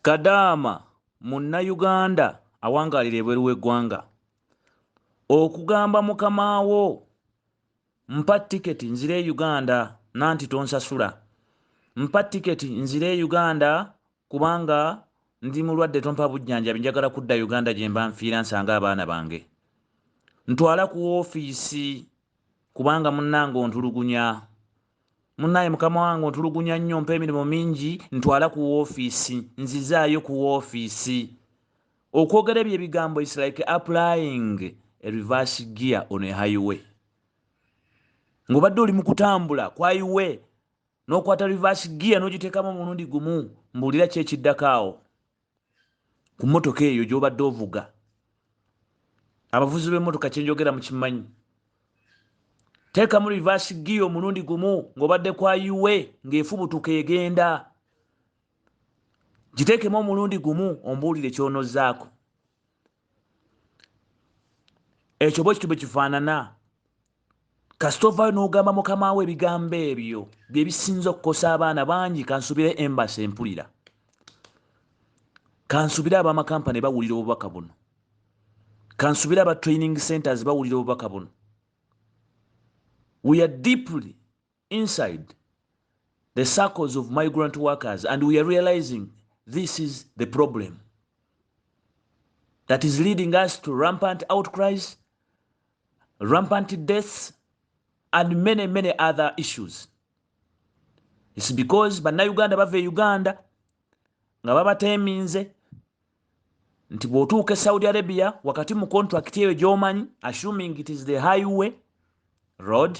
Kadaama munnayuganda awangaalira ebweru w'eggwanga. Okugamba mukama wo mpa tiketi nzire e Uganda nanti tonsasula. Mpa tiketi nzire e Uganda kubanga ndi mulwadde tompa bujjanjabi njagala kudda Uganda gye mba nfiira nsange abaana bange. Ntwala ku woofiisi kubanga munnange ontulugunya. Munaye mukama wange ontulugunya nnyo mpa emirimu mingi ntwala ku woofiisi nzizaayo ku woofiisi okwogera ebyo ebigambo is like applying a reverse gear on a highway ng'obadde oli mu kutambula ku highway n'okwata reverse gear n'ogiteekamu omulundi gumu mbuulira ki ekiddako awo ku mmotoka eyo gy'obadde ovuga abavuzi b'emmotoka kyenjogera mu kimanyi teekamu rivaasi giya omulundi gumu ng'obadde kwa uwe ng'efubutuka egenda giteekemu omulundi gumu ombuulire kyonozaako ekyo bwekityo bwekifaanana kasita ovaayo n'ogamba mukama wo ebigambo ebyo bye bisinza okukosa abaana bangi kansubire embasi empulira kansubire abamakampani bawulira obubaka buno kansubire aba training centers bawulira obubaka buno we are deeply inside the circles of migrant workers and we are realizing this is the problem that is leading us to rampant outcries rampant deaths and many many other issues its because bannayuganda bava e uganda nga babateeminze nti bw'otuuka e saudi arabia wakati mu contract eyo gy'omanyi assuming it is the highway road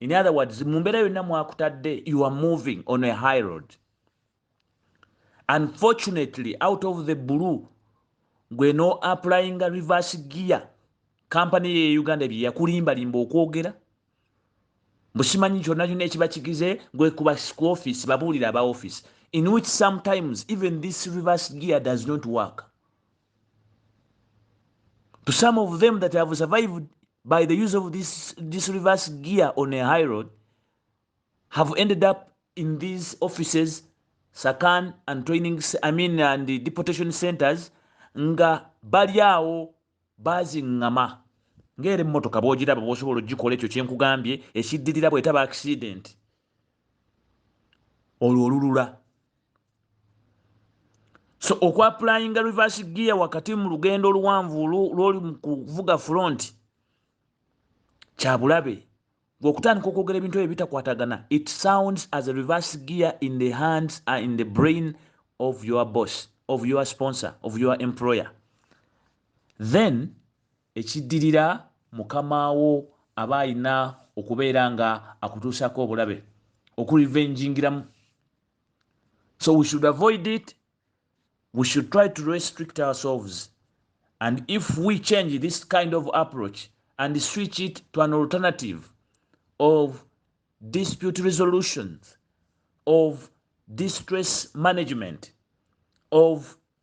in other words mumbera yonna mwakutadde you are moving on a high road unfortunately out of the blue gwe no applying a reverse gear kampany ye uganda bye yakulimbalimba okwogera busimanyi kyonna kyonna ekiba kigize gwe kuba ku office babuulira aba office in which sometimes even this reverse gear does not work to some of them that have survived by the use of this, this reverse gear on a high road have ended up in these offices sakan and training i mean and the deportation centers nga bali awo baziŋŋama ng'era emmotoka bw'ogiraba bw'osobola okugikola ekyo kye nkugambye ekiddirira bw'etaba akisidenti olwo olulula so okwapulayinga reverse gear wakati mu lugendo oluwanvu lwoli mu kuvuga front kyabulabe gwe okutandika okwogera ebintu ebyo bitakwatagana it sounds as a reverse gear in the hands and in the brain of your boss of your sponsor of your employer then Ekiddirira mukama wo aba alina okubeera nga akutuusako obulabe oku revengingiramu so we should avoid it we should try to restrict ourselves and if we change this kind of approach and switch it to an alternative of dispute resolutions of distress management of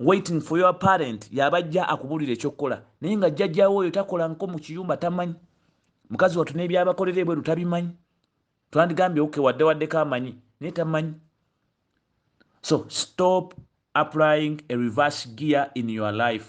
waiting for your parent yabajja akubulira ekyokukola naye nga jjajjawo oyo takola nko mu kiyumba tamanyi mukazi watu nebyabakolera ebweru tabimanyi twandigambye oke wadde waddeko amanyi naye tamanyi so stop applying a reverse gear in your life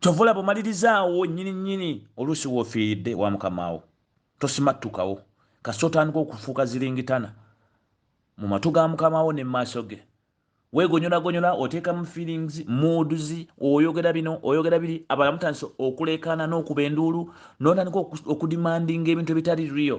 kyova olaba omalirizaawo nyini nyini oluusi wofiiridde wa mukamaawo tosimattukawo kasi otandika okufuuka ziringitana mu matu ga mukamaawo ne maaso ge wegonyolagonyola oteekamu feelings muuduzi oyogera bino oyogera biri abala mutandise okuleekaana n'okuba enduulu notandika okudimandinga ebintu ebitali rio